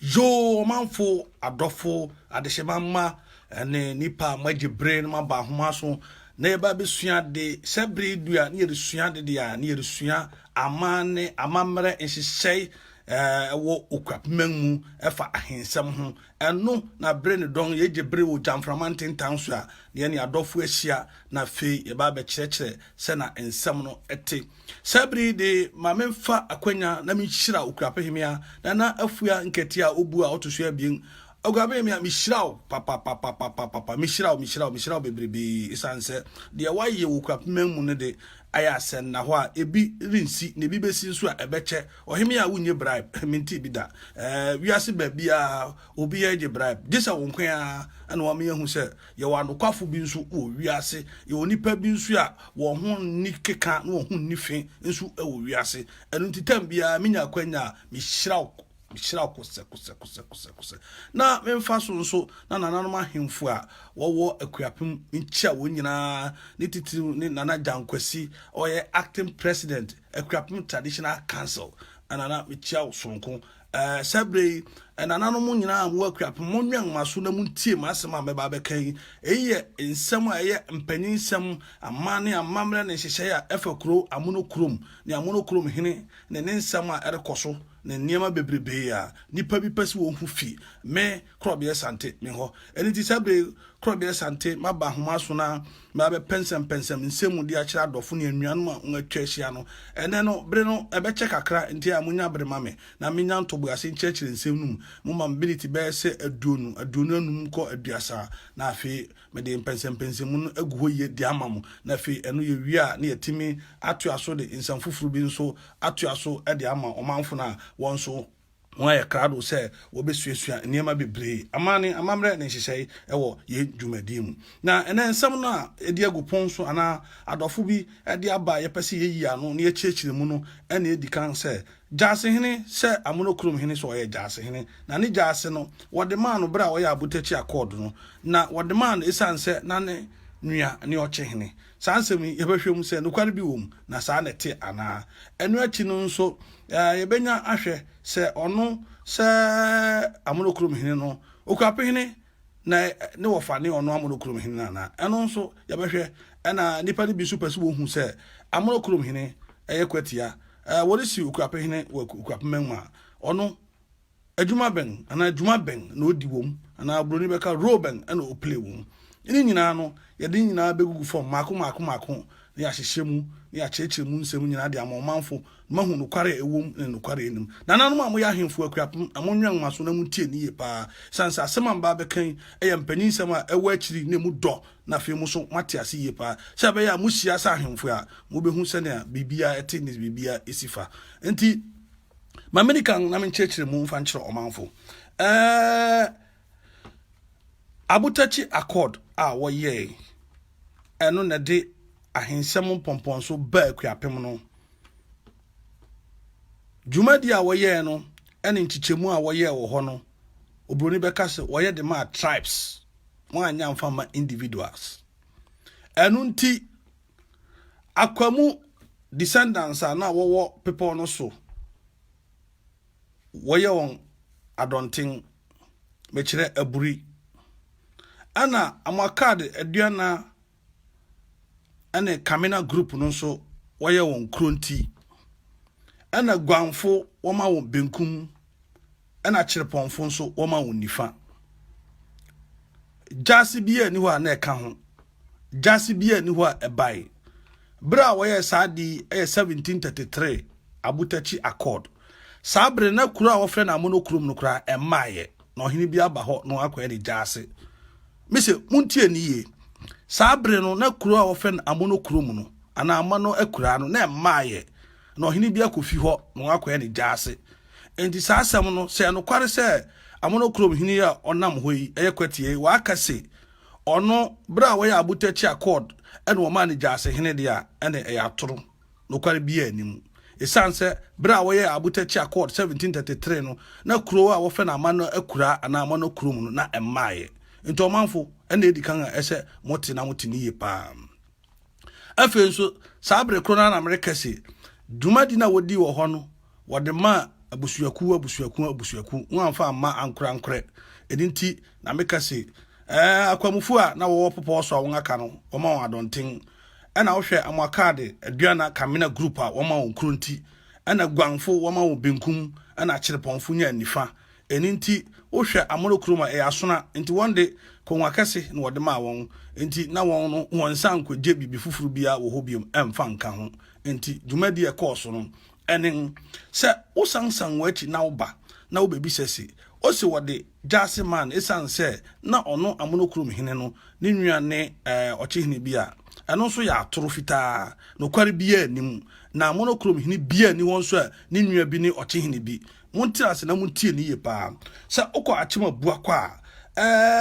Yoo ɔmanfo, adɔfo, adehyema mma ne nnipa a moagye bere na moaba ahoma so na yɛba abɛsua ade. Sɛ bere yi du a na yɛresua ade deɛ a, na yɛresua amanne, amammerɛ nhyehyɛe eh, wɔ Okuapemang mu ɛfa ahensɛm ho. Ɛno na bere ne dɔn yɛgye bere wɔ gyamframa ntentan so a na yɛne adɔfo ahyia na afei yɛba abɛkyerɛkyerɛ sɛ na nsɛm no te. Saa bere yi de, ma memfa akwanya na minhyira Okuapehemea Nana Afua Nkɛtee a obu a ɔto so abien. Okuapehemea, mihyira wo papapapapapapa. Mihyira wo, mihyira wo, mihyira wo bebrebe esiane sɛ deɛ woayɛ wɔ Okuapeman mu no de, ayɛ asɛnnahɔ a ebi rensi na ebi bɛsi nso a ɛbɛkyɛ. Ɔhemea a wonnye bribe, mentee bi da. Ɛɛ, wiase baabiara obiara gye bribe, gye sɛ wo nko ara na wɔama yɛahu sɛ Yɛwɔ anokwafo bi nso wɔ wiase. Yɛwɔ nnipa bi nso a wɔn ho nni keka na wɔn ho nni fi nso wɔ wiase. Ɛno nti tɛm biara minya akwanya a, mihyira wo, mihyira wo kosɛkosɛkosɛkosɛkosɛ. Na memfa so nso na nananom ahemfo a wɔwɔ Akuapem nkyia wɔn nyinaa, ne titiriw ne Nana Gyan Kwasi, ɔyɛ Acting President, Akuapem Traditional Council. Nana, mikyia wo soronko. Eh, sɛ bere yi, ɛnananom nyinaa a mowɔ Akuapem, monwɛn mo aso na muntie m'asɛm a mɛba abɛka yi. Eyi yɛ nsɛm a ɛyɛ mpanyin nsɛm, amanne, amammerɛ ne nhyehyɛe a ɛfa kurow amono kurom ne amono kurom hene ne ne nsɛm a ɛrekɔ so ne nneɛma bebrebe a nnipa bi pɛ sɛ wohu fi me korɔbeɛ sante me hɔ. Ɛno nti saa bere korɔbeɛ sante maba ahoma so na mabɛpɛnsɛmpɛnsɛm nsɛm mu de akyerɛ adɔfo ne anuanom a wɔatwa ahyia no. Ɛnnɛ no, bere no ɛbɛkyɛ kakra, enti a monya bere ma me na menya ntoboase nkyerɛkyerɛ nsɛm no mu. Momma me miniti bɛyɛ sɛ aduonu, aduonu anum kɔ aduasa, na afei mede mpɛnsɛmpɛnsɛmu no agu hɔ yiye de ama mo, na afei ɛno yɛwie a na yɛatumi atoa so de nsɛm foforo bi nso atoa so de ama ɔmanfo no a wɔn nso wɔayɛ krado sɛ wɔbɛsuasua nneɛma bebree, amanne, amammerɛ ne nhyehyɛe wɔ yɛn dwumadie mu. Na ɛnɛ nsɛm no a ɛdi agu pon so anaa adɔfo bi de aba a yɛpɛ sɛ yɛyi ano na yɛkyerɛkyerɛ mu no na ɛdi kan sɛ, Gyasehene sɛ amonokurom hene so ɔyɛ gyasehene. Na ne gyase no, wɔde maa no berɛ a ɔyɛ Abotɛkyi Accord no, na wɔde maa no ɛsiane sɛ na ne nua ne ɔkyehene. Saa nsɛm yi, yɛbɛhwɛ mu sɛ nokware bi wom na saa na ɛte anaa. Ɛno akyi no nso, yɛbɛnya ahwɛ sɛ ɔno sɛ amono kurom hene no, okura pehene na ne wɔfa ne ɔno amono kurom hene no anaa. Ɛno nso, yɛbɛhwɛ. Ɛna nnipa no bi nso pɛ sɛ wɔhu sɛ amono kurom hene yɛ kwatia. Wɔresi okura pehene wɔ okura pema mu a, ɔno Adwuma bɛn anaa dwuma bɛn na odi wom, anaa Buroni bɛka role bɛn na oplay wom? Ne nyinaa no, yɛde ne nyinaa begugu fam mmaako mmaako mmaako na yɛahyehyɛ mu na yɛakyerɛkyerɛ mu nsɛm nyinaa de ama ɔmanfo na wɔahu nokware a ɛwom ne nokware a ennim. Nananom a moyɛ ahemfo akuapem, monwɛn mo aso na muntie no yiye paa, esiane sɛ asɛm a mɛba abɛka yi yɛ mpanyin nsɛm a ɛwɔ akyiri na emu dɔ na afei mo nso moate ase yiye paa. Sɛ ɛbɛyɛ a muhyia sɛ ahemfo a, mubehu sɛnea biribiara te ne sɛ biribiara si fa. Enti, ma mene kan na menkyerɛkyerɛ mu mfa nkyerɛ ɔmanfo eh, abotakyi accord a wɔyɛe ɛno na ɛde ahensɛm mpɔmpɔnso baa akuapem no dwumadi a wɔyɛe no ɛne nkyekyɛmu a wɔyɛe wɔ hɔ no oburoni bɛka sɛ wɔyɛ de maa tribes wɔanyɛ mfa ma individuals ɛno nti Akwamu descendants a na wɔwɔ bepɔw no so wɔyɛ wɔn adɔnten, mekyerɛ aburi. Ɛna Amuakad Aduana ne Kamina group no nso wɔyɛ wɔn Kronti. Ɛna Guanfo wɔma wɔn benkum ɛna kyerepɔnfo nso wɔma wɔn nifa. Gyaase bi ani hɔ a na ɛka ho. Gyaase bi ani hɔ a ɛbae. Bere a wɔyɛ saa ade yi yɛ 1733 Abutachi Accord. Saa bere na kuro a wɔfrɛ no Amono kurom no koraa ɛmmaeɛ na ɔhene bi aba hɔ na wakɔyɛ ne gyaase. Mise montie ne yie. Saa bere no na kuro a wɔfrɛ no Amono kurom no anaa Amono akuraa no na ɛmmaeɛ. na ɔhene bi akɔ fi hɔ na wɔakɔyɛ no gyaase. Enti saa asɛm no, sɛ ɛyɛ nokware sɛ Amonokrom hene yi a ɔnam hɔ yi yɛ kwatiɛ yi, wɔaka se ɔno, bere a wɔyɛ abotɛkye accord na wɔmaa no gyaase hene de a, ɛnde ɛyɛ atoro. Nokware biara nni mu. Esiane sɛ bere a wɔyɛɛ abotɛkye accord 1733 no, na kurow a wɔfrɛ no Amano akuraa anaa Amonokrom no, na ɛmmaeɛ. Enti ɔmanfo, ɛnna edi kan a ɛsɛ mote na mote no yie paa. afei nso saa bere koro no na mereka se dwumadi no a wɔdii wɔ hɔ no wɔde ma abusuakuo abusuakuo abusuakuo ho amfa amma ankorankorɛ ɛno nti na meka se ɛɛ akwamufoɔ a na wɔwɔ popɔɔ so a wɔn aka no wɔma wɔn adɔnten ɛna wohwɛ amoakaade aduana kamena group a wɔma wɔn kuro nti ɛna guanfo wɔma wɔn benkum ɛna akyerepɔnfo nya nifa Ɛno nti, wohwɛ Amoro kurom a, ɛyɛ asona. Enti wɔn de, konwa kɛse na wɔde maa wɔn. Enti na wɔn no, wɔnsan nkogye biribi foforo biara wɔ hɔ bio mfa nka ho. Enti dwumadi a ɛkɔɔ so no ne sɛ wosansan wɔn akyi na woba na wobebisa se, Ose wɔde gyaase maa no esiane sɛ na ɔno Amoro kurom hene no ne nua ne ɔkyehene bi a ɛno nso yɛ atoro fitaa. Nokware biara nni mu, na Amoro kurom hene biara nni hɔ nso a ne nua bi ne ɔkyehene bi. monte ase na montie ne yie paa sɛ wokɔ akyem abua kɔ a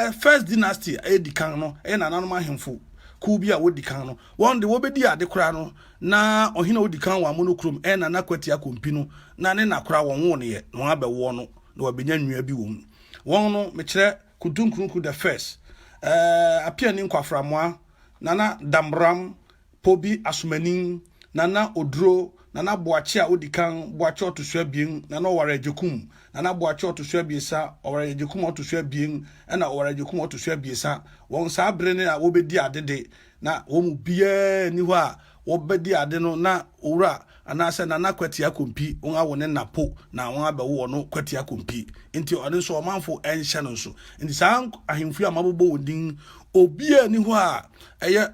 eh, first dynasty ɛdi kan no ɛyɛ nananom ahemfo kuw bi a wodi kan no wɔn de wɔbɛdi ade koraa no na ɔhene a odi kan wɔ amono kurom ɛyɛ nana kwati akompi no na ne na koraa wɔn wo no yɛ na wɔn abɛwoɔ no na wɔabɛnya nnua bi wɔ mu wɔn no mekyerɛ kuntunkunku the first eh, apia ne nkwaframoa nana damram Pobi Asomanin, Nana Oduro, Nana Boakye a odi kan, Boakye ɔto so abien, Nana Oware Agyekum, Nana Boakye ɔto so abiɛsa, Oware Agyekum ɔto so abien, ɛnna Oware Agyekum ɔto so abiɛsa. Wɔn saa bere no na wɔrebedi ade de, na wɔn mu biara nni hɔ a wɔbɛdi ade no na Owura anaasɛ Nana Kwati Akompi, wɔn awo ne nna po na wɔabɛwo ɔno Kwati Akompi, enti ɔno nso ɔmanfo nhyɛ no nso. Enti saa ahemfo yi a mabobɔ wɔn din yi, obiara nni hɔ a ɛyɛ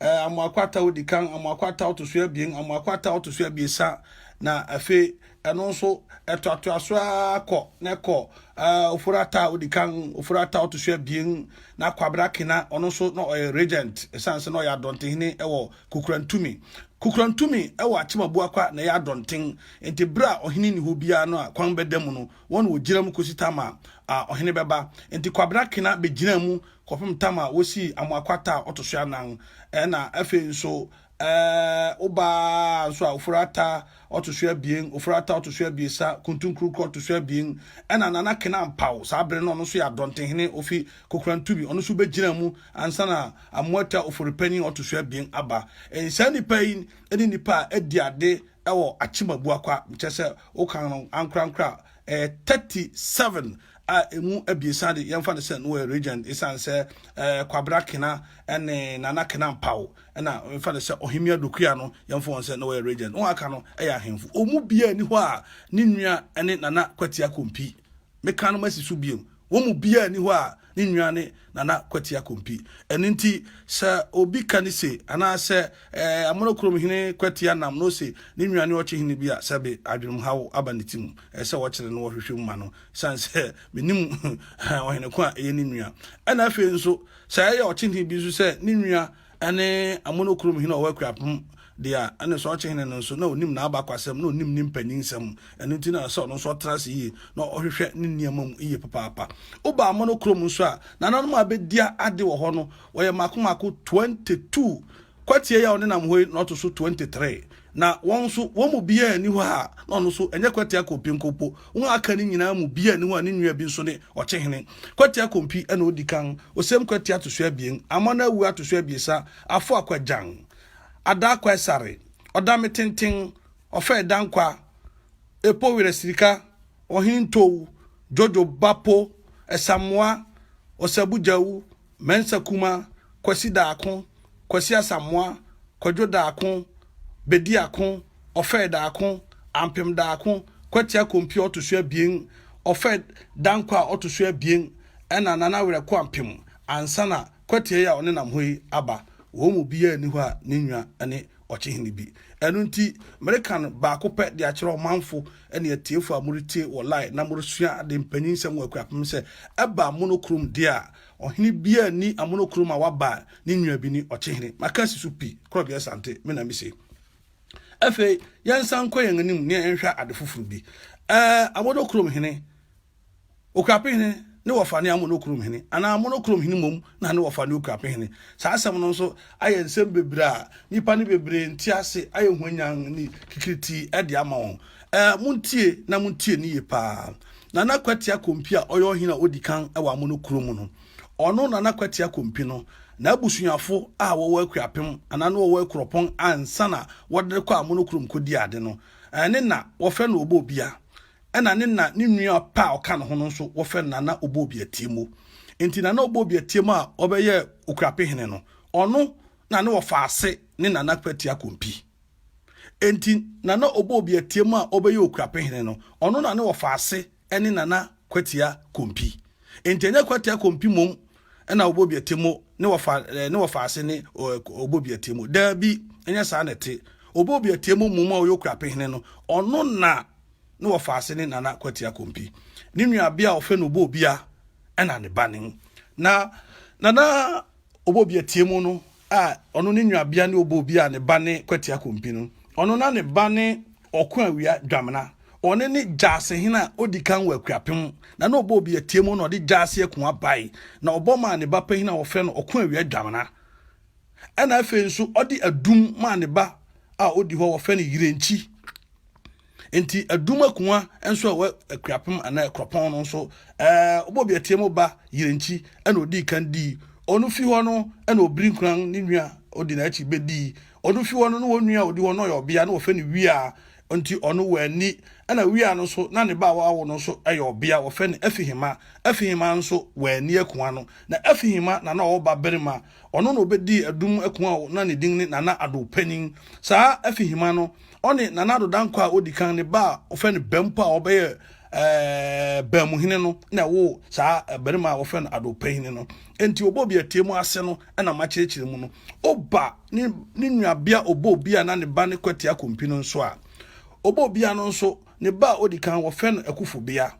Ɛɛ, Amoako Ataaw adi kan, Amoako Ataaw to so abien, Amoako Ataaw to so abiɛsa, na afei ɛno nso ɛtoatoa so ara kɔ na ɛkɔ ɛɛ Ofori Ataaw adi kan, Ofori Ataaw to so abien, na Kwabena Kena ɔno nso na ɔyɛ regent ɛsan sɛ na ɔyɛ Adɔntehene wɔ Kukurantumi. Kukurantumi wɔ Akyem Abuakwa na ɛyɛ Adɔnten, nti berɛ a ɔhene nni hɔ biara no a kwan bɛda mu no, wɔn na wɔgyina mu kɔsi tam a ɔhene bɛba. Nti Kwabena Kena bɛgyinaa mu kɔpem tam a wosii Amoa Kwata a ɔto so anan, ɛna afei nso ɛɛ wobaa nso a Ofori Atta ɔto so abien, Ofori Atta ɔto so abiesa, Kuntu Nkrukɔ ɔto so abien, ɛna Nana Kena Ampaw, saa bere no ɔno nso yɛ Adɔntehene ofi Kokorantubi, ɔno nso begyinaa mu ansa na Amoa Atta Ofori Panyin a ɔto so abien aba. Ɛn saa nnipa yi ne nnipa a adi ade wɔ Akyem Abuakwa, kyerɛ sɛ wokan no ankorankoro a, ɛyɛ thirty seven a emu abiɛsa de yɛmfa no sɛ na wɔyɛ regent esiane sɛ ɛɛ kwabena kena ne nana kena mpaw ɛna yɛmfa no sɛ ɔhemmea dokuya no yɛmfa wɔn sɛ na wɔyɛ regent wɔn aka no ɛyɛ ahemfo wɔn mu biara ni hɔ a ne nua ne nana kwatia kompi meka no masi so biom Wɔn mu biara nni hɔ a ne nua ne Nana Kwati Akompi. Ɛno nti, sɛ obi ka ne se, anaasɛ Amona kurom hene Kwati Anam na ose ne nua ne Ɔkyehene bi a, sɛbe adwenemhaw aba ne tirim. Ɛsɛ sɛ wɔkyere no wɔ hwehwɛ mu ma no, esiane sɛ menim ɔhene ko a ɛyɛ ne nua. Ɛna afei nso, sɛ ɛyɛ Ɔkyehene bi nso sɛ ne nua ne amono kurom hene a ɔwɔ Akuapem deɛ a, ɛne sɛ ɔkye hene no nso, na ɔnim n'abakwasɛm, na ɔnim ne mpanyinsɛm. Ɛno nti na sɛ ɔno nso ɔtena ase yie, na ɔhwehwɛ ne nneɛma mu yie papaapa. Woba amono kurom nso a, nananom a bɛdia ade wɔ hɔ no, wɔyɛ mmaako mmaako 22. Kwatie yi a ɔnenam hɔ yi na ɔto so 23. Na wɔn nso, wɔn mu biara nni hɔ a na ɔno nso, ɛnyɛ Kwatia Kompi nko mpo, wɔn a aka no nyinaa mu biara nni hɔ a ne nua bi nso ne Ɔkyehene. Kwatia Kompi na odi kan. Osem Kwatia to so abien. Amona Awuah to so abiɛsa. Afo Akwagyan. Adaa Kwaesare. Ɔdame Tenten. Ɔfɛe Dankwa. Epo Werɛ Sirika. Ɔhene Ntow. Dwodwo Bapo. Ɛsamoa. Ɔsabu Gyawu. Mensah Kumah, Kwasi Daako, Kwasi Asamoah, Kwadwo Daako, Bedi Ako, Ofed Daako, Ampem Daako, Kwati Akompie a ɔto so abien, Ofed Dankwa a ɔto so abien, ɛnna Nana Awerɛko Ampem ansa na Kwati yi a ɔnenam hɔ yi aba. Wɔn mu biara nni hɔ a ne nua ne Ɔkyehene bi. Ɛno nti, mereka no baako pɛ de akyerɛ ɔmanfo ne atiefo a moretie wɔ live na moresua ade mpanyin nsɛm wɔ Akuapem sɛ, ɛba mono kurom deɛ a, Ɔhene biaa nni amonokoro ma waba ne nua bi ne ɔkyehene. Maka si so pi, korɔbea sante, me na mise. Afei, yɛnsan nkɔ yɛn anim ne yɛnhwɛ ade foforo bi. Ɛɛ, amonokurom hene, okuape hene ne wɔfa ne amonokurom hene, anaa amonokurom hene mmom na ne wɔfa ne okuape hene. Saa asɛm no nso ayɛ nsɛm bebree a nnipa no bebree nte ase, ayɛ hwanyann ne kikiritii de ama wɔn. Ɛɛ, montie na montie no yie paa. Nana Kwatia Kompi a ɔyɛ ɔhene a odi kan wɔ Amono kuro mu no, ɔno Nana Kwatia Kompi no, n'abusuafo a wɔwɔ Akuapem anaa na wɔwɔ Akuropɔn ansa na wɔde rekɔ Amono kurom kɔdi ade no, ɛɛ, ne na wɔfrɛ no Obobia. Ɛna ne na ne nua pɛ a ɔka ne ho no nso, wɔfrɛ no Nana Obobia Tiemo. Enti Nana Obobia Tiemo a ɔbɛyɛɛ Okuape hene no, ɔno na ne wɔfa ase ne Nana Kwatia Kompi. Enti Nana Obo Obiateam a ɔbɛyɛ Okurapehene no, ɔno na ne wɔfa ase ne Nana Kwatia Kompi. Enti ɛnyɛ Kwatia Kompi mmom na Obo Obiateam ne wɔfa ne wɔfa ase ne Obo Obiateam. Daabi, ɛnyɛ saa na ɛte. Obo Obiateam mmom a ɔyɛ Okurapehene no, ɔno na ne wɔfa ase ne Nana Kwatia Kompi. Ne nuabea a wɔfrɛ no Obo Obia na ne ba no. Na Nana Obobi Atiemu no a ɔno ne nuabea ne Obobi a ne ba ne Kwati Akompi no. Ɔno na ne ba ne Ɔko Awia Dwamena. Ɔno ne Gyasehene a odi kan wɔ Akuapem. Na na Obobi Atiemu na ɔde Gyase Akunwa bae, na ɔbɔ maa ne ba panyin a wɔfrɛ no Ɔko Awia Dwamena. Ɛna afei nso ɔde adum maa ne ba a odi hɔ a wɔfrɛ no Yirenkyi. Enti adum akua nso a ɛwɔ akuapem anaa akuropɔn no nso, ɛɛ wobɔ biatia mu ba Yerenkyi ɛna odii kan dii. Ɔno fi hɔ no ɛna Obirinkuran ne nua odi n'akyi bɛdii. Ɔno fi hɔ no na wɔn nua a ɔdi hɔ no ɔyɛ ɔbea na wɔfɛ no Wia nti ɔno wanni. Ɛna Wia no nso na ne ba a wawo no nso ɛyɛ ɔbea wɔfɛ no Afihima. Afihima nso wanni akua no. Na Afihima na na ɔwɔ ba berima. Ɔno na ɔbɛdii Adum Ako a na ne din ne Nana Addo panin. Saa Afihima no, ɔne Nana Addo Dankwa a ɔdi kan, ne ba a wɔfrɛ no Bampo a ɔbɛyɛ ɛɛɛ Baamuhene no na ɛwoo saa barima a wɔfrɛ no Addo Panyini no. Enti Obobiatie mu ase no na makyerɛkyerɛ mu no. Oba ne ne nuabea Obobia a na ne ba ne Kwati Akompi no nso a, Obobia no nso, ne ba a ɔdi kan wɔfrɛ no Akufobea.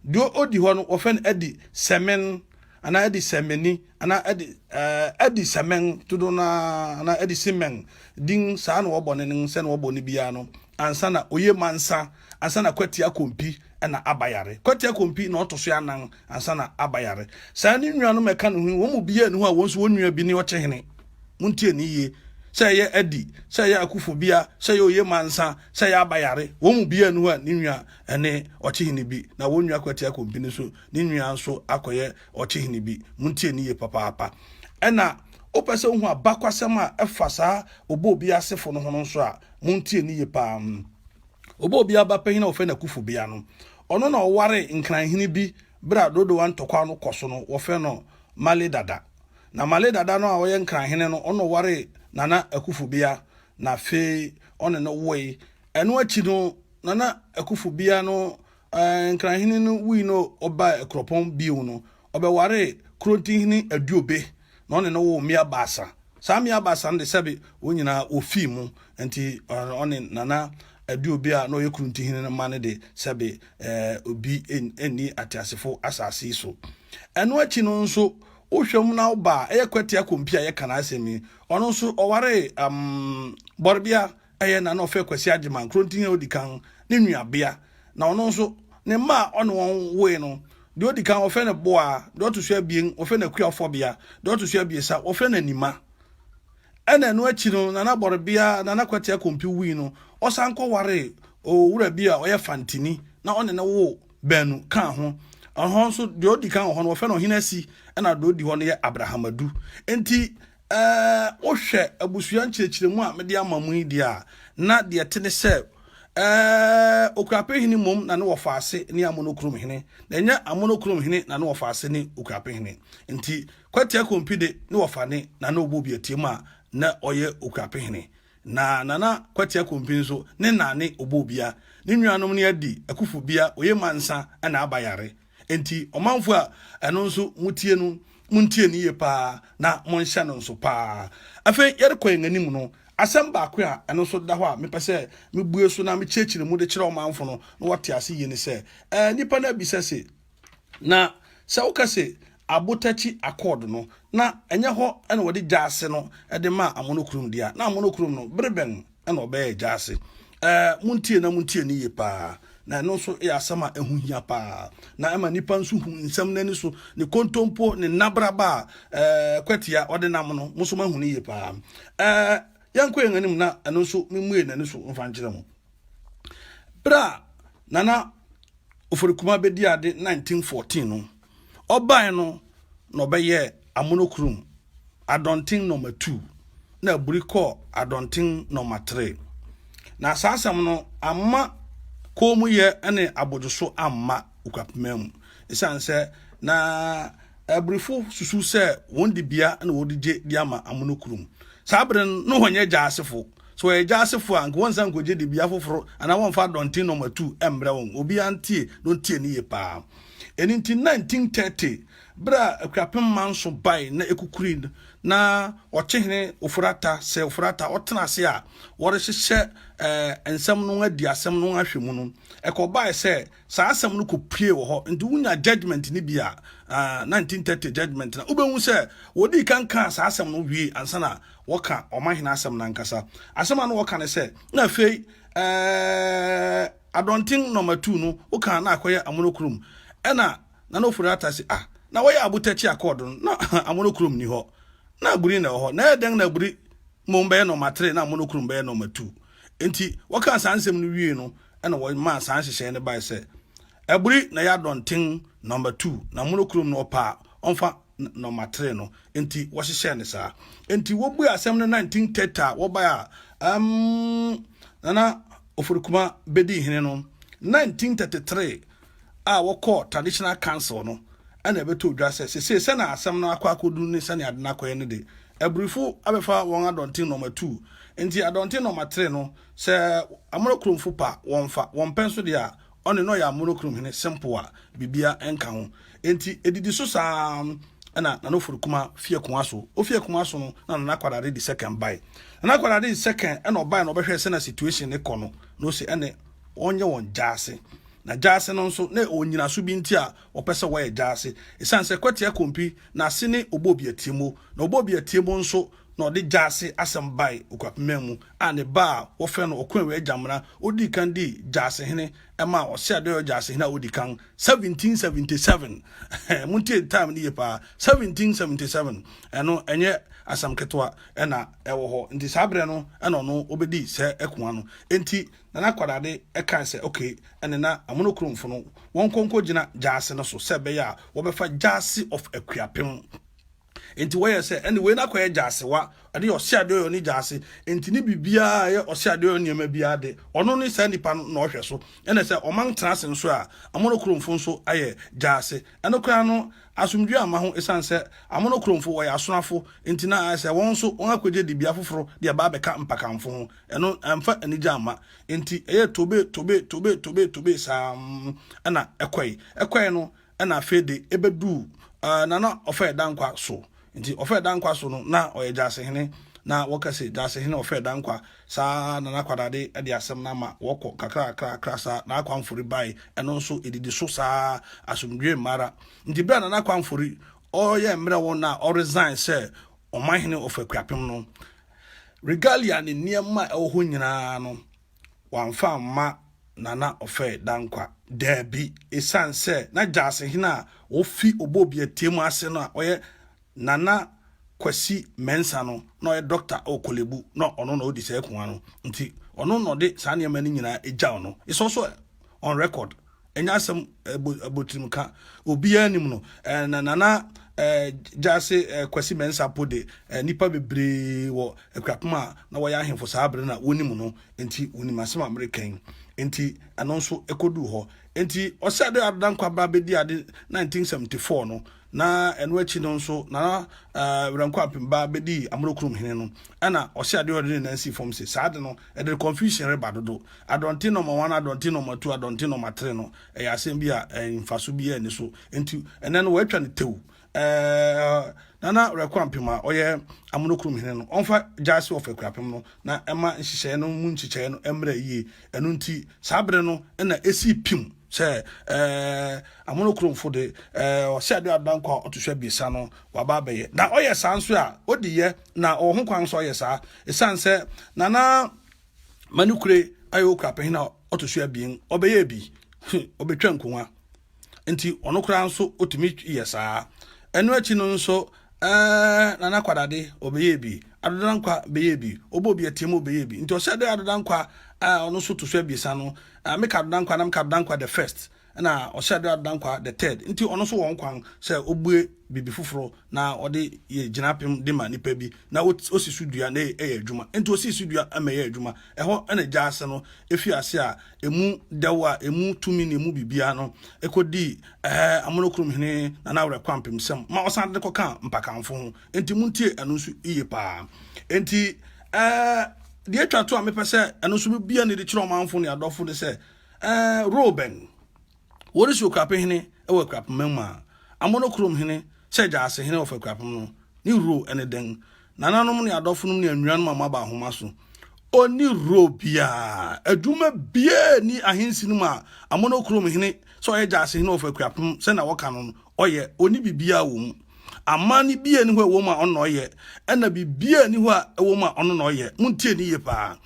Deɛ ɔdi hɔ no wɔfrɛ no Adi Sɛmen. anaa adi sɛ meni anaa adi ɛɛ adi sɛ mɛn dodo na anaa adi si mɛn din saa na wɔbɔ ne ne sɛ na wɔbɔ ne biara no ansa na oye mansa ansa na kwati akompi ɛna abayare kwati akompi na ɔto so anan ansa na abayare saa ne nua no mɛka ne ho wɔn mu biara ne ho a wɔn nso wɔn nua bi ne ɔkyɛ hene mo ntie ne yie sɛ ɛyɛ adi sɛ ɛyɛ akufo bia sɛ ɛyɛ oye mansa sɛ ɛyɛ abayare wɔn mu biara ne ho a ne nua ɛne ɔkyɛ hene bi na wɔn nua kwati akompi ne so ne nua nso akɔyɛ ɔkyehene bi. Montie no yie papaapa. Ɛna wopɛ sɛ wohu abakwasɛm a ɛfa saa ɔbɔ obi asefo no ho no nso a, montie no yie paa. Ɔbɔ obi aba panyin a wɔfrɛ no Akufo Bea no, ɔno na ɔware nkranhene bi bere a Dodowa ntɔkwaw no kɔ so no, wɔfrɛ no Male Dada. Na Male Dada no a ɔyɛ nkranhene no, ɔno na ɔwaree Nana Akufo Bea na afei ɔne no woe. Ɛno akyi no, Nana Akufo Bea no Nkran hene no wui na ɔbaa Akuropɔn bio no, ɔbɛwaree Kuronti hene Aduobe na ɔne no woo mmea baasa. Saa mmea baasa no de, sɛbe wɔn nyinaa wɔfii mu, nti ɔne Nana Aduobe a na ɔyɛ Kuronti hene no mma no de, sɛbe obi nni ateasefo asase yi so. Ɛno akyi no nso, wohwɛ mu na wo ba a ɛyɛ Kwatia Kompi a yɛka n'asɛm yi, ɔno nso ɔwaree Bɔrebea Ɛyɛ na na ɔfrɛ Kwasi Agyeman, Krontin a odi kan, ne nuabea, na ɔno nso, ne mma a ɔne wɔn woe no, deɛ odi kan, wɔfrɛ no Boaa, deɛ ɔto so abien, wɔfrɛ no Akua Ɔfɔbea, deɛ ɔto so abiɛsa, wɔfrɛ no Anima. Ɛna ɛno akyi no, Nana Bɔrebea, Nana Kwatia Kompi wui no, ɔsan kɔwaree owura bi a ɔyɛ Fantini, na ɔne no woo baanu kaa ho. Ɛhɔ nso, deɛ odi kan wɔ hɔ no, wɔfrɛ no Ɔhene Asi, ɛna deɛ odi hɔ no yɛ Abraham Adu. Enti, Sɛ wohwɛ abusua nkyerɛkyerɛmu a mede ama mo yi deɛ a, na deɛ ɛte ne sɛ, Okuapehene mmom na ne wɔfaase ne Amonokurumhene, na ɛnyɛ Amonokurumhene na ne wɔfaase ne Okuapehene. Nti, Kwati Akompi de, ne wɔfane na na ɔbɔ obi atia mu a, na ɔyɛ Okuapehene. Na Nana Kwati Akompi nso, ne na ne ɔbɔ obia. Ne nuanom ne Adi, Akufo Bia, Oyemansah, ɛna Aba Yare. Enti ɔmanfo a ɛno nso motie no, muntie no yie paa na monhyɛ no nso paa. Afei yɛrekɔ yɛn anim no, asɛm baako a ɛno nso da hɔ a mepɛ sɛ mebue so na mekyerɛkyerɛ mu de kyerɛ ɔmanfo no na wɔate ase yie ne sɛ, ɛɛ nnipa no abisa se, na sɛ woka se Abotakyi Accord no, na ɛnyɛ hɔ na wɔde gyaase no de maa Amono kurom dea, na Amono kurom no, bere bɛn ɛna ɔbɛyɛ agya ase ɛɛ montie na montie ne yie paa na ɛno nso yɛ asɛm a ɛho hia paa na ɛma nipa nso hu nsɛm n'ani so ne kontompo ne nnabraba a ɛɛ kwatia ɔde nam no mo nso mahu ne yie paa ɛɛ yɛnkɔ yɛn anim na ɛno nso memmue n'ani so mfa nkyerɛ mo berɛ a nana ofori kuma bɛdi ade 1914 no Ɔbae no na ɔbɛyɛɛ Amonokrom Adɔnten Nɔma Two na aburi kɔɔ Adɔnten Nɔma Tre. Na saa asɛm no amma kommyɛ ne abodwoso amma Ukwapima mu esiane sɛ na aburifo susuw sɛ wɔn dibea na wɔde gye de ama Amonokrom. Saa bere no, na wɔnyɛ Gyaasefo. Sɛ wɔyɛ Gyaasefo a, anka wɔnsan nkogye dibea foforo anaa wɔmfa Adɔnten Nɔma Two mmrɛ wɔn. Obiara ntie na ontie no yiye paa. Ɛno nti, 1930 bere a Akuapem Manso bae na ekukuri no, na Ɔkyehene Ofori-Atta, Sir Ofori-Atta, ɔtena ase a wɔrehyehyɛ eh, nsɛm no adi asɛm no ahwɛ mu no, ɛkɔbae sɛ saa asɛm no kɔpue wɔ hɔ. Nti wonya judgment no bi a, ah, 1930 judgment no, wobɛhu sɛ wɔdii kan kaa saa asɛm no wie ansa na wɔka ɔmahene asɛm no ankasa. Asɛm a na wɔka ne sɛ, na afei eh, Adɔnten na ɔmatuu no wo kaa na akɔyɛ amono kurom ɛna nana ofori ata se ah na wɔyɛ abotɛkye accord no na amono kurom nni hɔ na aburi na ɛwɔ hɔ na ɛyɛ dɛn na aburi mmom bɛyɛ na ɔmatere na amono kurom bɛyɛ na ɔmatuu enti wɔkaa saa nsɛm no wiee no ɛna wɔmaa saa nhyehyɛe no bae sɛ aburi na ɛyɛ adɔnten na ɔmatuu na amono kurom no ɔpaa ɔmfa nɔmatere no nti wɔhyehyɛ ne saa nti wɔbue asɛm no 1930 a wɔbae a um, nana oforikuma bɛdi hene no 1933 a wɔkɔɔ traditional council no ɛna ɛbɛtɔ dwa sɛ sesei sɛna asɛm no akɔ akɔdu ne sɛne ade no akɔyɛ no de aburifo abɛfa wɔn adɔnten nɔma tu nti adɔnten nɔma tere no sɛ amoro kuromfo pa wɔmfa wɔmpɛ nso deɛ a Ɔne na ɔyɛ amonokrom hene simple a biribiara nka ho. Enti edidi so saa na Nana Oforikuma fi akonwa so. Ofi akonwa so no na Nana Kwadade di second bae. Nana Kwadade di second na ɔbae na ɔbɛhwɛɛ sɛnea situation no kɔ no na ose ɛne wɔnyɛ wɔn gyaase. Na gyaase no nso na ɛwɔ nnyinaso bi nti a wɔpɛ sɛ wɔyɛ gyaase. Esiane sɛ Kwatia Kompi n'ase ne Ɔbɔ Obi Atie Mo na Ɔbɔ Obi Atie Mo nso na ɔde gyaase asɛm bae Okuapemman mu, a ne ba a wɔfrɛ no Okoewe Agyamena odii kan dii Gyaasehene ɛmaa Ɔseadoyɔ Gyaasehene a odi kan, 1777. Montie time no yie paa, 1777, ɛno ɛnyɛ asɛm ketewa na ɛwɔ hɔ. Nti saa berɛ no na ɔno ɔbɛdii sɛ Akua no. Enti Nana Kwadade kae sɛ okay, ɛne na Amonokuromfo no wɔnkɔ nkɔgyina gyaase no so sɛ ɛbɛyɛ a wɔbɛfa Gyaase of Akuapem. Enti wɔyɛ sɛ ɛne wei no akɔyɛ gyasewa, ɛne ɔse adeɛ ɔyɛ ɔne gyaase, enti ne biribiara a ɛyɛ ɔse adeɛ ɔyɛ nneɛma biara de, ɔno ne saa nipa no na ɔhwɛ so. Ɛne sɛ ɔman tena ase nso a, amono kuromfo nso ayɛ gyaase. Ɛno koraa no, asomdwoe amma ho esiane sɛ amono kuromfo wɔyɛ asonafo, enti na ayɛ sɛ wɔn nso wɔakɔgye dibea foforo de aba abɛka mpakanfo ho. Ɛno amfa anigye amma, enti ɛyɛɛ tobe, tobe, tobe, tobe, tobe saa na ɛkɔe. Ɛkɔe no, ɛna afei de ɛbɛduu uh, Nana Ɔfɛ Dankwa so. Nti Ɔfɛ Dankwa so no, na ɔyɛ Gyasehene, na wɔka sɛ Gyasehene Ɔfɛ Dankwa. Saa Nana Kwadade de asɛm no ama wɔkɔ kakrakrakra saa na Akwanfori bae, ɛno nso ɛdidi so saa asomdwoe mmara. Nti berɛ a Nana Akwanfori ɔyɛ mmerɛ wɔn na ɔresign sɛ ɔmanhene Ɔfɛ Kuapem no, regalia ne nneɛma a ɛwɔ hɔ nyinaa no, wamfa amma Nana Ofei Dankwa? Daabi, esiane sɛ na Gyasehene a ofi Obobiatie mu ase no a ɔyɛ Nana Kwasi Mensah no na ɔyɛ dɔkta wɔ Korle Bu na ɔno na odi saa akonnwa no nti, ɔno na ɔde saa nneɛma no nyinaa gyaw no. It's also on record. Ɛnyɛ asɛm abotrim ka obiara nim no. Nana Gyasi Kwasi Mensah po de nnipa bebree wɔ Akuapem a na wɔyɛ ahemfo saa bere na wonim no nti wonim asɛm a mereka yi. Nti ɛno nso ɛkɔduu hɔ. Nti ɔsɛ dɛ Adodankwa ba bɛdi ade 1974 no Na ɛno akyi no nso, Nana Werɛnko Ampemba bɛdii Amorokurom hene no, ɛna Ɔse Adeɔdɔ de ne nan sii fam se, saa ade no, ɛde confusion reba dodo. Adɔnten na ɔma wan, adɔnten na ɔma tu, adɔnten na ɔma tere no, ɛyɛ asem bi a mfaso biara nni so. Enti, ɛnnɛ no, wɔatwa no tew. Ɛɛ, Nana Werɛko Ampema a ɔyɛ Amorokurom hene no, ɔmfa Gyaase Ɔfɛ Kurapem no na ɛma nhyehyɛe no mu nkyekyɛe no mmra yie. Ɛno nti, saa bere no na ɛsii pimm. sɛ ɛɛ amono kuromfo de ɛɛ ɔsɛ ade adanko a ɔto so abiɛsa no waba abɛyɛ na ɔyɛ saa nso a odi yɛ na ɔwɔ ho kwan nso ɔyɛ saa esan sɛ nana manukure ayɛ okura panyin a ɔto so abien ɔbɛyɛ bi ɔbɛtwa nkonwa nti ɔno koraa nso otumi yɛ saa ɛno akyi no nso ɛɛ nana kwadade ɔbɛyɛ bi adodankwa bɛyɛ bi ɔbɔ bi atia mu ɔbɛyɛ bi nti ɔsɛ ade adodankwa ɛɛ ɔno nso to so abiɛsa no Ah me Cardinal Nkwa nam Cardinal Nkwa the first ɛna ɔhyɛ Adera Dankwa the third nti ɔno nso wɔ ho kwan sɛ ɔbue biribi foforɔ na ɔde yɛ gyinapem de ma nipa bi na ɔsi so dua na ɛyɛ adwuma nti ɔsii so dua ma ɛyɛ adwuma ɛhɔ ɛna gya ase no ɛfiri ase a ɛmu dɛw a ɛmu tumi ne ɛmu biribiara no ɛkɔdii ɛɛ amono kurom hene Nana Awerɛ Kwampem sɛm ma ɔsan de kɔka mpakanfo ho enti montie ɛno nso yie paa enti ɛɛ deɛ atwa to a mepɛ sɛ ɛno nso bia ne de kyerɛ ɔmanfo ne adɔfo ne sɛ ɛɛ roben wɔde si okrape hene ɛwɔ akurapema mu a amono kurom hene sɛ gyaase hene wɔfa akurapem no ne ro ɛne dɛn nananom ne adɔfo nom ne anuanom a moaba ahoma so ɔni ro biaa adwuma biaa ni ahensi no mu a amono kurom hene sɛ ɔyɛ gyaase hene wɔfa akurapem sɛ na wɔka no no Ɔyɛ, ɔnni biribiara wɔ mu. Aman no biara ni hɔ a ɛwɔ mu a ɔno na ɔyɛ, ɛna biribiara ni hɔ a ɛwɔ mu a ɔno na ɔyɛ. Montie ne yie paa.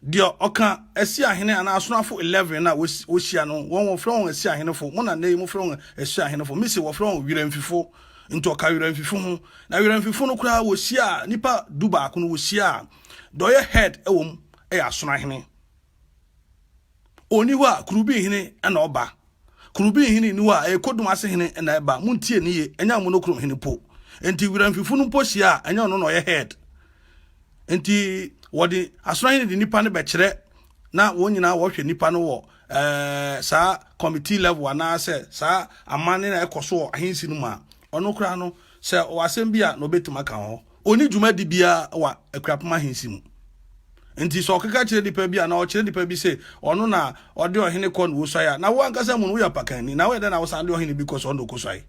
Deɛ ɔka asiahene anaa asonafo 11 no a wɔhyia no, wɔn wɔfrɛ wɔn asiahenefo, mo na nnɛ yi mofrɛ wɔn asuahenefo. Mise wɔfrɛ wɔn werɛmfifo, nti ɔka werɛmfifo ho. Na werɛmfifo no koraa wɔhyiaa nnipa du baako no, wɔhyiaa deɛ ɔyɛ head wɔ mu, ɛyɛ asonahene. Ɔnni hɔ a kurubinhene na ɔba. Kuro bi nhene nni hɔ a ɛyɛ Kodun ase hene na ɛba. Montie no yie, ɛnyɛ Amonokro hene mpo. Enti Wiramfifo no mpo hyia a, ɛnyɛ ɔno na ɔyɛ head. Enti wɔde asorahene de nipa no bɛkyerɛ na wɔn nyinaa wɔhwɛ nipa no wɔ eh, saa committee level anaasɛ saa amanne na ɛkɔ so wɔ ahensi no mu a ɔno koraa no sɛ ɔwɔ asɛm bi a na ɔbɛtumi aka wɔ hɔ. Ɔnni dwumadi biara wɔ Akuapem Ahensi mu. Nti sɛ ɔkeka kyerɛ nipa bi anaa ɔkyerɛ nipa bi se ɔno na ɔde ɔhene kɔ na ɔsuae a, na wo ankasa mu no woyɛ apakanni. Na woyɛ dɛn na wosan de ɔhene bi kɔ sɛ ɔno na ɔkɔsuae?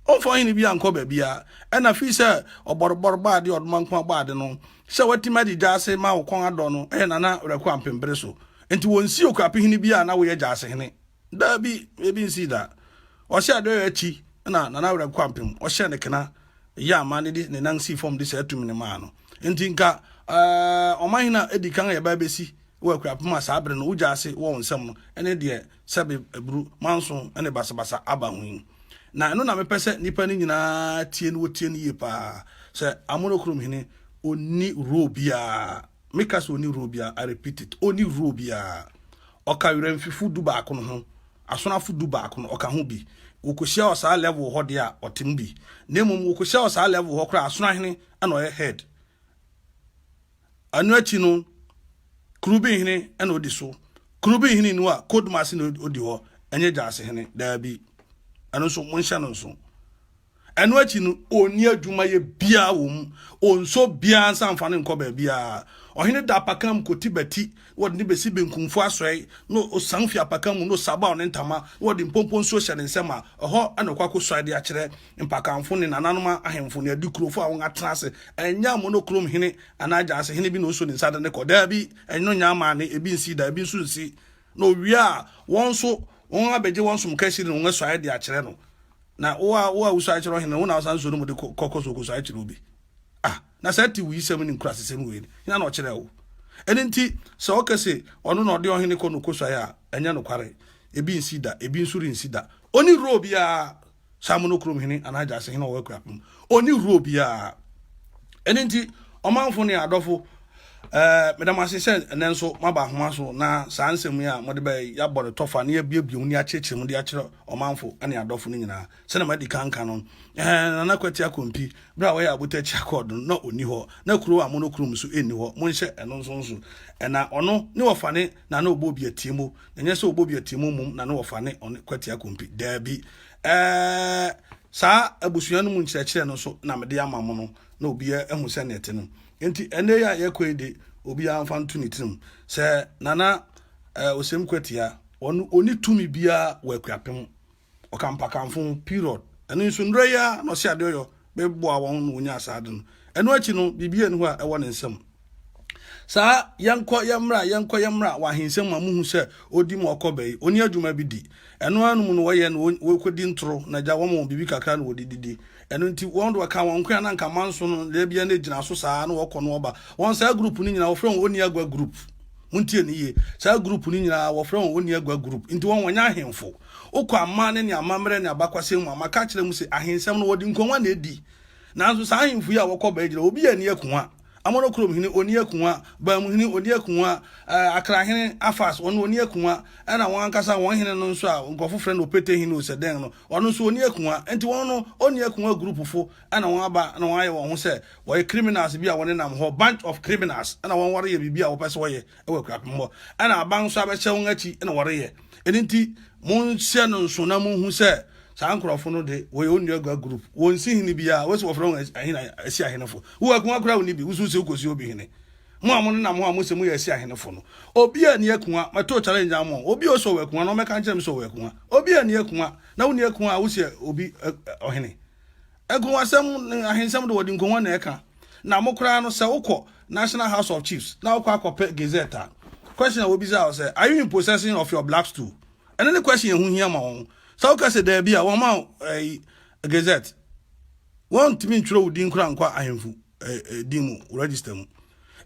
Ɔmfa ɔhene bi ankɔ baabiara. Ɛna fii sɛ ɔbɔrebɔre bɔ ade, ɔdoma nko abɔ ade no, sɛ watumi adi gyaase ma wo kɔn adɔ no, ɛyɛ Nana Werɛko Ampem bere so. Nti wɔnsi Okuapehene biara na woyɛ gyaasehene. Daabi, ebi nsii da. Ɔhyɛɛ dɔ yɛ akyi na Nana Awurɛ Kwampem ɔhyɛɛ ne kena yɛ ama ne de ne nan sii fam de saa tumi no maa no. Nti nka eh, ɔmanhene a edi kan a yɛbaa besi wɔ Akuapem a saa bere no wogya ase wɔ wo nsam no ne deɛ sɛbe aburu manso ne basabasa aba ho yi. Na ɛno na mepɛ sɛ nnipa no nyinaa tie no wɔtie no yie paa sɛ Amonokrom hene ɔnni role biara. Me ka sɛ ɔnni role biara, I repeat it, ɔnni role biara. Ɔka werɛmfifo dubaako no ho, asonafo dubaako no, ɔka ho bi. Wɔkɔhyia wɔ saa level hɔ deɛ a, ɔte mu bi. Na mmom wɔkɔhyia wɔ saa level hɔ koraa a, asonoahene na ɔyɛ head. Ɛno akyi no, Kurubinhene na ɔdi so. Kurubinhene nu a, Kodmasi na ɔdi hɔ, ɛnyɛ Gyasehene, daabi. Ɛno nso, monhyɛ no nso. Ɛno akyi no, ɔnni adwumayɛ biara wɔ mu, ɔnsɔ biara nsa mfa no nkɔ baabiara. Ɔhene da apakan mu kɔti bati, na ɔde no bɛsi benkumfo asoɛe, na ɔsian fi apakan mu, na ɔsabaw ne ntama, na ɔde mpompo nsuo hyɛ ne nsam a, ɛhɔ na ɔkɔ akɔsuae de akyerɛ mpakanfo ne nananom ahemfo ne adikurofo a wɔatena ase. Ɛnyɛ amonokrom hene anaa agyansehene bi na ɔso ne nsa de no kɔ. Daabi, ɛno nyɛ amanne, ebi nsii da, ebi nso nsi. Na ɔwie a, wɔn nso, wɔn abɛgye wɔn som kahyire ne wɔn asuaeɛ de akyerɛ no. Na wo a, wo a wosuae kyerɛ ɔhene no, wo na wosan nsuo no mu de kɔ, kɔ, kɔ so kɔsuae kyerɛ obi. Ah, na saa ti wuyisɛm ne nkurasesɛm wei no, hena na ɔkyerɛɛ wo? Ɛno nti, sɛ ɔka se, ɔno na ɔde ɔhene kɔ na ɔkɔsuae a, ɛnyɛ nokware. Ebi nsi da, ebi nso rensi da. Ɔnni role biara saa monokrom hene anaa gyase hene a ɔwɔ akuapem ɔnni horoɔ biara ɛno nti ɔmanfo ne adɔfo ɛɛ meda mo ase sɛ ɛnɛ nso moaba ahoma so na saa nsɛm yi a mode bɛyɛ yɛabɔ no tɔfa na yɛabiebie mu ne akyerɛkyerɛ mu de akyerɛ ɔmanfo ne adɔfo no nyinaa sɛdeɛ madi kanka no ɛɛ nana kwati akɔmpi berɛ a wɔyɛ abotakyi akɔɔd no na ɔnni hɔ na kuro a monokrom so ɛnni hɔ monhyɛ ɛno nso nso ɛna ɔno ne wɔfa ne na na ɔbɔ obi atiamu, na ɛnyɛ sɛ ɔbɔ obi atiamu mmom na na wɔfa ne ɔne kwatia kompi. Daabi. Ɛɛ, saa abusua no mu nkyerɛkyerɛ no nso na mede ama mo no, na obiara ahu sɛ nɛte no. Enti ɛnɛ yi a yɛkɔ yi de, obiara mfa nto ne tirim sɛ Nana ɛɛ, Osem Kwatia, ɔno ɔni tumi biara wɔ Akuapem. ɔkampa kamfo ho period ɛno nso nnura yi ara na ɔsi ade ɔyɔ bɛboa wɔn na wɔnya saa ade no ɛno akyi no biribi yɛ ne hɔ a ɛwɔ ne nsam saa yɛnkɔ yɛmmra yɛnkɔ yɛmmra wɔ ahensɛm ma muhu sɛ odi ma ɔkɔ bɛyi oni adwuma bi di ɛno ara no mu no wɔyɛ no wɔkɔdi ntoro na gya wɔn wɔn biribi kakra na wɔde didi ɛno nti wɔn de wɔka wɔn nkoa na nka manso no deɛ bia no gyina so saa na wɔkɔ no ɔba wɔn saa group no nyinaa wɔfrɛ wɔn oni agua group montie ne yie saa group no nyinaa wɔfrɛ wɔn oni agua group nti wɔn wɔnyɛ ahemfo Wokɔ aman ne ne amammerɛ ne abakwasɛm mu a, maka akyerɛ mo se, ahensɛm no, wɔde nkongua na edi. Nanso saa ahemfo yi a wɔkɔ baa gyina, obiara nni akongua. Amonokurom hene, onni akongua. Baam hene, onni akongua. Ɛɛ, Akra hene, Afas, ɔno onni akongua. Ɛnna wɔn ankasa wɔn hene no nso a nkurɔfo frɛ no Opete hene o, sɛ dɛn no, ɔno nso onni akongua. Enti wɔn no, onni akongua gurupfo na wɔaba na wɔayɛ wɔn ho sɛ wɔyɛ criminals bi a wɔnenam hɔ, bunch of criminals, na wɔn wɔreyɛ biribi a wɔpɛ sɛ wɔyɛ wɔ akuapem hɔ. Ɛnna aban nso abɛhyɛ wɔn akyi na wɔreyɛ. Ɛno nti, monhyɛ no nso na monhu sɛ saa nkurɔfo no de wɔyɛ onua gua group wɔn si hene bi a wɔsi wɔfrɛ wɔn ahene asi ahenefo wo akuma kura wo ni bi wusu sɛ wokɔsi obi hene mo a mo nenam ho a mosɛ moyɛ asi ahenefo no obi a ni akuma mɛto challenge ama obi a ɔsɛ ɔwɔ akuma no ɔmɛka nkyerɛ me sɛ ɔwɔ akuma obi a ni akuma na wonni akuma a wosɛ obi ɔhene nkɔnwasɛm ahensɛm de wɔde nkɔnwa na ɛka Na mo koraa no sɛ wokɔ National House of Chiefs na wokɔ akɔpɛ Gazette a, question a wobisa wo sɛ, are you in possession of your black stool? Ɛno ne question ɛho hia ma wɔn. Sɛ woka sɛ daabi a, wɔma wo ɛyi Gazette. Wɔntumi ntwerɛ wo din koraa nkɔ ahemfo din mu register mu.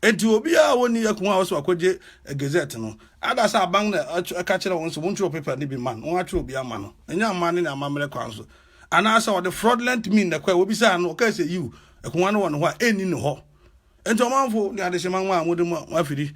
Enti obiara a wɔnni ɛko a ɔsɛ wakɔgye Gazette no, ada sɛ aban na ɛka kyerɛ wɔn sɛ wɔntwerɛ paper no bi ma no, wɔatwerɛ bi ama no. Ɛnyɛ amane ne amammerɛ kwan so. Anaasɛ ɔde fraudulent mean na ɛkɔɛ, wobisaa no, ɔkae sɛ, yiw, akongua no wɔ ne hɔ a, enni ne hɔ. Enti ɔmanfo ne adehyema nwa a mode mo afiri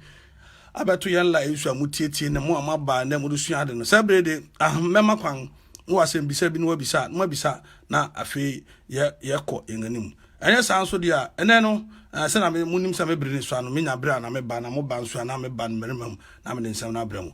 abɛto yɛn la nsu a mutiatia ne mo a moaba nnɛ mode sua ade no, saa bere yi de, ahem, mɛma kwan, mowɔ asɛmmisa bi na wɔabisa, na moabisa, na afei yɛ, yɛkɔ yɛn anim. Ɛnyɛ saa nso de a, ɛnnɛ no, eh, sɛnea me, munim sɛ me bere no sua no, menya bere a na meba, na moba nso a na meba ne mmarima mu, na mede nsɛm no abrɛ mo.